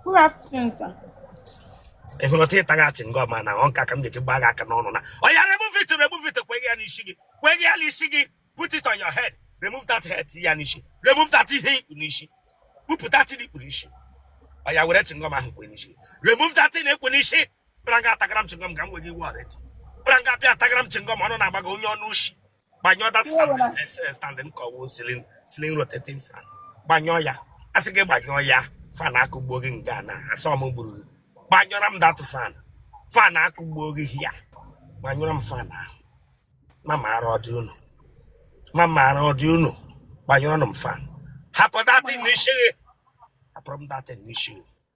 Good afternoon, sir. ị hụrụ otu ị taga chingọm a na ọ nka ka m ga-eji gbaa gị aka n'ọnụ na oya remove it remove it kwenye ya n'isi gị kwenye ya n'isi gị put it on your head remove that head tinye ya n'isi remove that ihe i kpu n'isi kpupụ that thing i kpu n'isi oya were chingọm ahụ kwe n'isi remove that thing ekwe n'isi bịara nga atagara m chingọm ka m nwe gị iwe ọrịa bịara nga bịa atagara m chingọm ọnụ na-agbago onye ọnụ ushi gbanyụọ that standing eh, eh, standing ka ọ wụ ceiling ceiling rotating fan gbanyụọ ya asị gị gbanyụọ ya fan akụgbuo gị nga na-asọ m gburugburu. gbanyụọra m that fan fan akụgbuo gị here gbanyụọra m fan ahụ ma maara ọdị unu ma maara ọdị unu gbanyụọra m fan hapụ that thing n'isi gị hapụrụ m that thing n'isi gị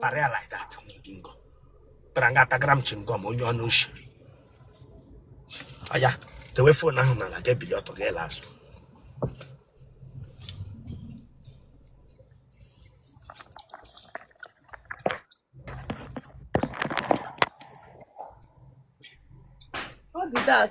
Para ya like that n'idi ngo. Bịara nga atagara m chingom onye ọnụ nshi. Ọya, dewe phone ahụ n'ala ga ebili ọtọ ga ele azụ. Ọ dị dak.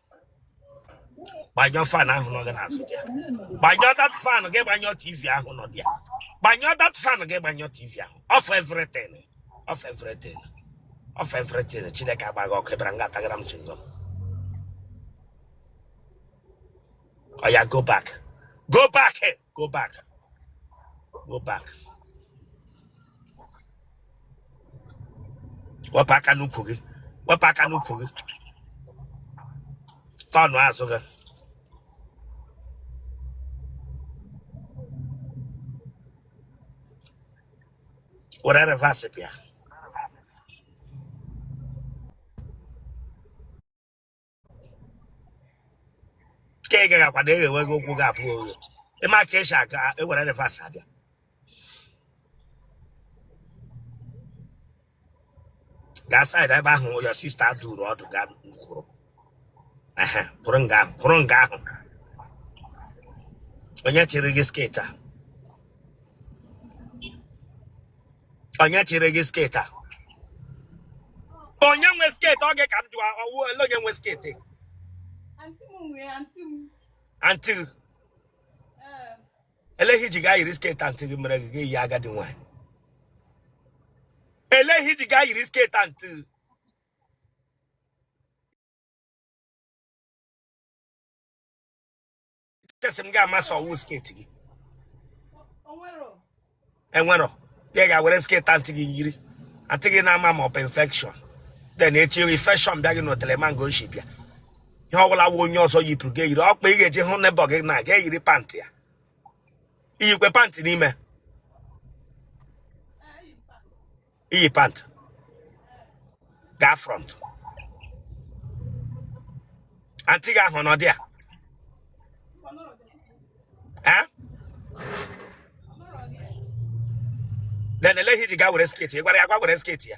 gbanyụọ fan ahụ nọ gị n'azụ there gbanyụọ that fan gaa gbanyụọ tv ahụ nọ there gbanyụọ that fan gaa gbanyụọ tv ahụ off everything off everything off everything Chineke agbaa gị ọkụ ị bịara nga atagara m chingom oya go back go back go back go back wepụ aka n'ukwu gị wepụ aka n'ukwu gị turn azụ gị were reverse bịa ka ị gagakwa na-eghewegha ụkwụ gị abụọ oghe ị ma ka esi aga ewere reverse abịa gaa side ebe ahụ your sister duru ọdụ gaa kwụrụ ehe kwụrụ nga ahụ kwụrụ nga ahụ onye chịrị gị sketi a onye chịrị gị sketi a onye nwe sketi ọ gị ka m jụọ ọ wụ ole onye nwe sketi antị gị elee ihe i ji gaa yiri sketi antị gị mere gị eyi agadi nwaanyị elee ihe i ji gaa yiri sketi antị gị chesi m ga-ama sị ọ wụ sket gị enwerọ ya gaa were sket antị gị yiri antị gị na-ama ma ọ bụ infection then echi infection bịa gị n'otele mango nshi bịa ihe ọbụla wụ onye ọzọ yipụrụ gị eyiri ọkpa ị ga-eji hụ neighbour gị na ga eyiri pantị ya i yikwe pant n'ime i yi pant gaa front anti gị ahụ nọdịa eh? then elee ihe i ji gaa were sketi ị gwara ya gaa were sketi ya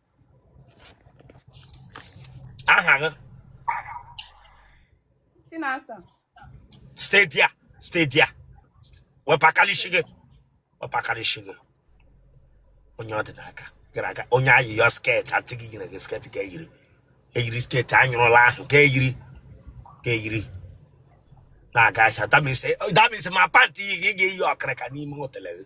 aha gị Chinasa stay there stay there wepụ aka n'isi gị wepụ aka n'isi gị onye ọ dị n'aka gara aga onye ayịyọ sket antị gị nyere gị sket ke eyiri eyiri sket a nyụrụla ahụ ka i yiri ka i yiri na-aga ahịa damise ma pant i yi gị ga-eyi ọkịrịka n'ime otele gị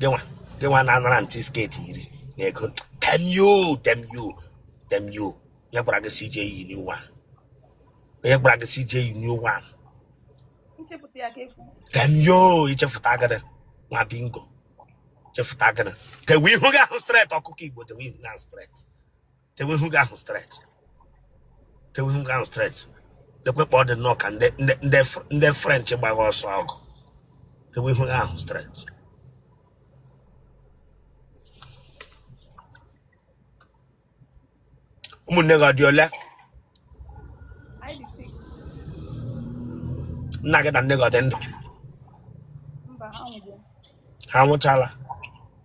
gịnwa gịnwa na-anara antị sket i yiri na ego tee m ihu tee m ihu tee m ihu ya gwara gị si ije iyi new one ya gwara gị si ije iyi new one tee m ihu ichefuta agada nwa bingo chefuta agada tewe ihu gị ahụ straight ọkụkọ igbo tewe ihu gị ahụ straight tewe ihu gị ahụ straight tewe ihu gị ahụ straight lekwe kpa ọ dị nnọọ ka ndị french gbagha ọsọ ọgụ tewe ihu gị ahụ straight ụmụnne gị ọ dị ole nna gị na nne gị ọ dị ndụ ha nwụchala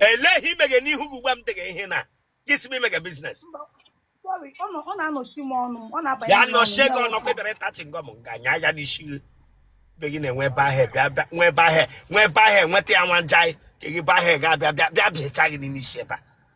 elee ihe i meghe n'ihu gị ugbu a m dịghị ihe na gị si m i megha business Sorry, ọ nọ- ọ na-anọchi m ọnụ ọ na-abanye ya m n'ọnụ, nọchie gị ya ọnụ wepụ. ị bịara ịta chingọm m ga-anya ya n'isi gị be gị na-enwe ebe ahụ bịa bịa nwe ebe ahụ nwe ebe ahụ nweta ya nwa nja ka gị ebe ahụ ga-abịa bịa bịa bịacha gị n'ime isi ebe a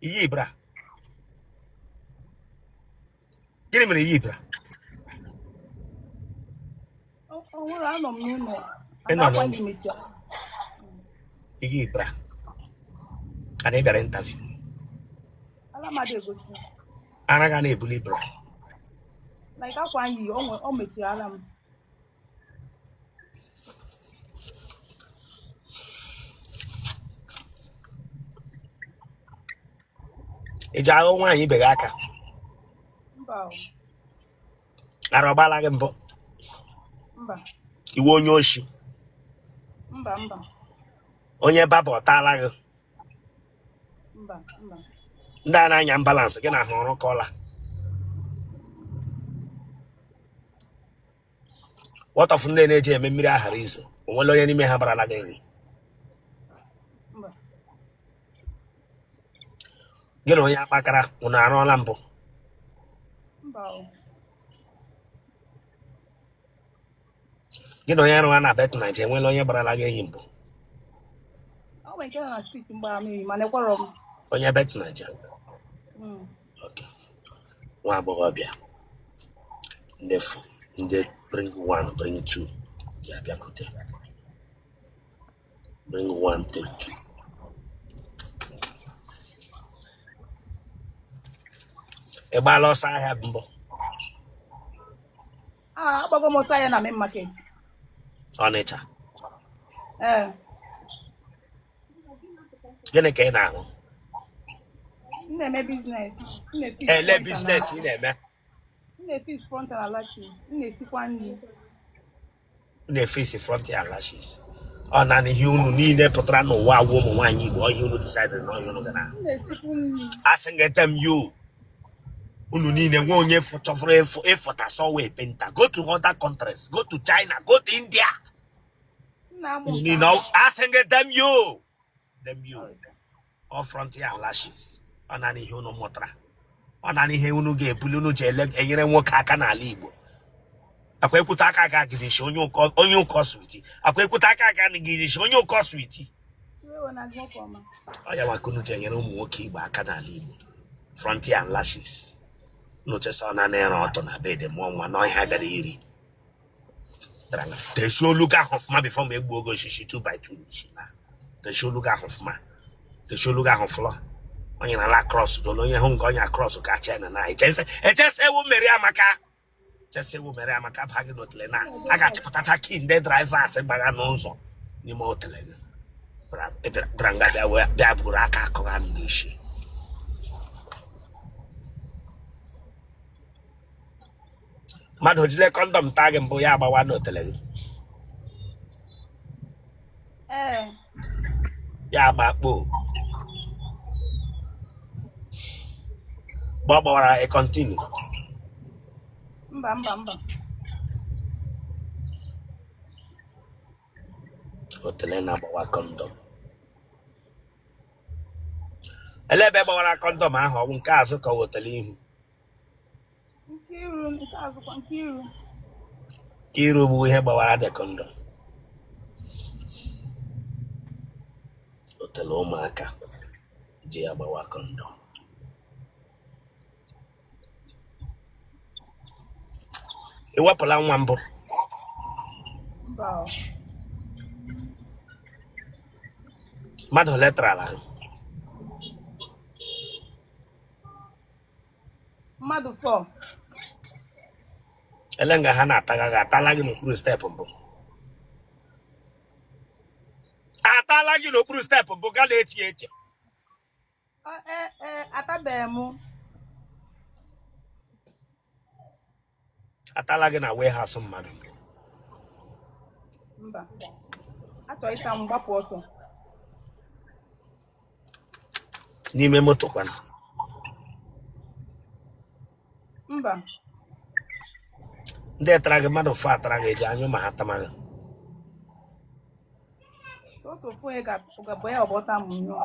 i yi bra gịnị mere i yi bra i yi bra a na ị bịara interview ara gị na-ebuli bra like akwa anyị o mechiri ala m ị ji aghọ nwaanyị ibe gị aka mba o, ara ọ gbaala gị mbụ mba iwe onye oshi mba mba onye baba ọ taala gị mba mba ndị a na-anya ambulance gị na ha ọ rụkọọla what of ndị na-eji eme mmiri a ghara izo o nwere onye n'ime ha gbarala gị enyi gị na onye akpakara unu arụọla mbụ gị na onye arụwa na bet naija e nweela onye gbarala gị enyi mbụ onye bet naija nwa agbọghọbịa ndị fụ ndị bring one bring two ji abịakute bring one take two ị gbaala ọsọ ahịa mbụ Ah, agbago m ọsọ ahịa na main market ọnịcha. Ee. gịnị ka ị na-arụ olee biznes ị na-eme na-efiksi frontal and lashes ọ naanị ihe unu niile pụtara n'ụwa agwa ụmụ nwaanyị Igbo ọ ihe a unu disaidịrị na ọ ihe a unu ga-arụ asị m gete m yo unu niile nwe onye chọfụrụ ịfụta sọwa kapinta go to other countries go to China go to India You know, asking them you, them you, ọ frontal lashes, ọ naanị ihe unu mụtara, ọ naanị ihe unu ga-ebulu unu ji enyere ụmụ nwoke aka n'ala igbo. akwa ekwute aka aga gị nshi onye ụkọ switi akwa ekwute aka aga gị nshi onye ụkọ switi ọ ya wa ka unu ji enyere ụmụ nwoke igbo aka n'ala igbo frontal and lashes unu chesi ọ na ịra ọtụ na bed mụọ nwa na ọ ihe a bara uru teshi olu gị ahụ ọfụma bifo m egbuo gị osisi 2 by 2 n'isi na teshi olu gị ahụ ọfụma teshi olu gị ahụ fụlọ onye na ala krọs dolo onye hụ nke onye krọs ka chena na echese echese ewu mmeri amaka echese ewu mmeri amaka ba gị n'otele na a ga-achịpụtacha key ndị drivers gbagha n'ụzọ n'ime otele gị bịara nga bịa wee bịa buru aka akụgha m n'isi mmadụ o jile kọndọm taa gị mbụ ya agbawa n'otele gị ee ya agba kpoo mgbe ọ gbawara ị kọntinu mba mba mba otele na-agbawa kọndọm ele ebe gbawara kọndọm ahụ ọ wụ nke azụ ka ọ wụ otele ihu Nke iru bụ ihe gbawara de kọndọm otele ụmụaka ji agbawa kọndọm i wepụla nwa mbụ mmadụ ole tarala mmadụ fọ ele nga ha na-ataga gị atala gị n'okpuru steepụ mbụ atala gị n'okpuru steepụ mbụ gala eche eche atabeghị m atala gị na warehouse mmadụ mba a chọọ ịta m gbapụ ọsọ n'ime moto kwanụ mba ndị tara gị mmadụ fọ tara gị ị ji anyụ ma ha tama gị sọsọ ofu onye ga-abụ ya ọgbọta m nyụọ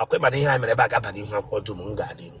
ọ kwa ị ma na ihe anyị mere ebe a ga-aba n'ihu akwụkwọ dum m ga adịru